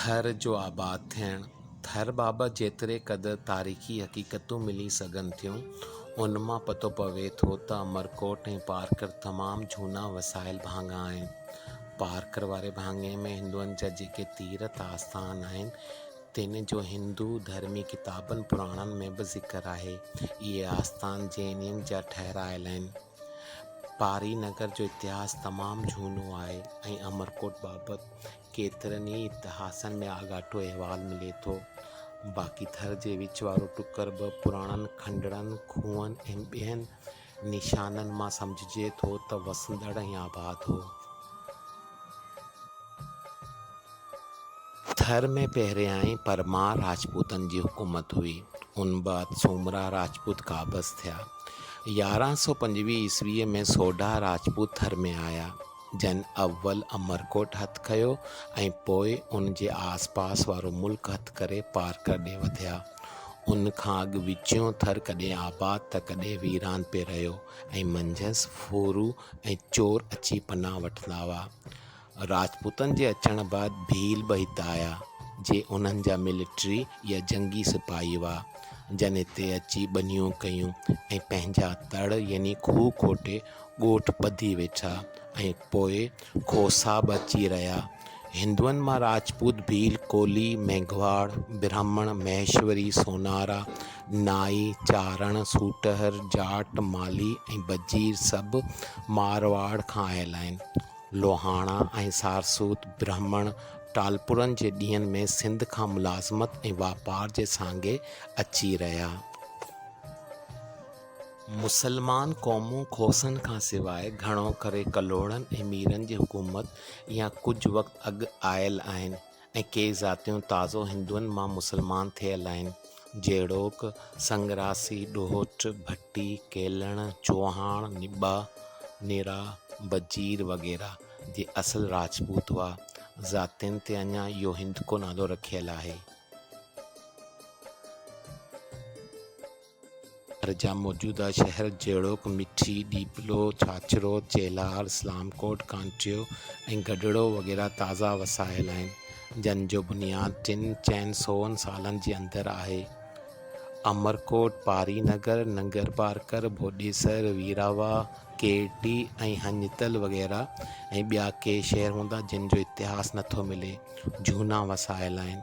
ٿر جو آباد ٿيڻ، ٿر بابت جيتري قدر تاريخي حقيقتون ملي سگهن ٿيون، ان مان پتو پوي ٿو ته امرڪوٽ ۽ پارڪر تمام جهونا وسايل ڀاڱا آهن. پارڪر واري ڀاڱي ۾ هندوئن جا جيڪي تيرٿ آستان آهن، تن جو هندو ڌرمي ڪتابن پراڻن ۾ به ذڪر آهي. اهي آستان جينين جا ٺهرايل آهن. پاري نگر جو اتهاس تمام جهونو آهي ۽ امرڪوٽ بابت ڪيترن ئي اتهاسن ۾ آڳاٽو احوال ملي ٿو. باقي ٿر جي وچ وارو ٽڪر به پراڻن کنڊرن، کوهن ۽ ٻين نشانن مان سمجهجي ٿو ته وسندڙ ۽ آباد هو. ٿر ۾ پهريائين پرمار راجپوتن جي حڪومت هئي. ان بعد سومرا راجپوت قابض ٿيا. يارهن سؤ پنجويهه عيسويء ۾ سوڍا راجپوت ٿر ۾ آيا. جنھن اول عمرڪوٽ ھٿ ڪيو ۽ پوء ان جي آس پاس وارو ملڪ ھٿ ڪري پارڪر ڏي وڌيا. ان کان اڳ وچيون ٿر ڪڏھن آباد ته ڪڏھن ويران پئي رھيو ۽ منجھس ڦورو ۽ چور اچي پناھ وٺندا ھئا. راجپوتن جي اچڻ بعد ڀيل به ھت آيا، جي انھن جا ملٽري يا جنگي سپاھي ھئا، جن ھتي اچي ٻنيون ڪيون ۽ پنھنجا تڙ يعني کوھ کوٽي ڳوٺ ٻڌي ويٺا ۽ پوء کوسا به اچي رهيا. هندوئن مان راجپوت، ڀيل، ڪولهي، ميگهواڙ، برهمڻ، مهيشوري، سونارا، نائي، چارڻ، سوٽهر، جاٽ، مالهي ۽ بجير سڀ مارواڙ کان آيل آهن. لوهاڻا ۽ سارسوت، برهمڻ، ٽالپرن جي ڏينهن ۾ سنڌ کان ملازمت ۽ واپار جي سانگي اچي رهيا. مسلمان قومون کوسن کان سواء گهڻو ڪري ڪلهوڙن ۽ ميرن جي حڪومت يا ڪجهه وقت اڳ آيل آهن ۽ ڪي ذاتيون تازو هندوئن مان مسلمان ٿيل آهن، جهڙوڪ، سنگراسي، ڏوهٽ، ڀٽي، ڪيلڻ، چوهاڻ، نبا، نرا، بجير وغيره، جي اصل راجپوت هئا. ذاتين تي اڃا اهو هندڪو نالو رکيل آهي. شهر جا موجوده شهر جهڙوڪ، مٺي، ڏيپلو، ڇاڇرو، چيلهار، اسلام ڪوٽ، ڪانٽيو ۽ گڊڙو وغيره تازا وسايل آهن، جن جو بنياد ٽن چئن سون سالن جي اندر آهي. امرڪوٽ، پاري نگر، ننگرپارڪر، ڀوڏيسر، ويراوا، ڪيرٽي ۽ هڃتل وغيره ۽ ٻيا ڪي شهر هوندا جن جو اتهاس نٿو ملي، جهونا وسايل آهن.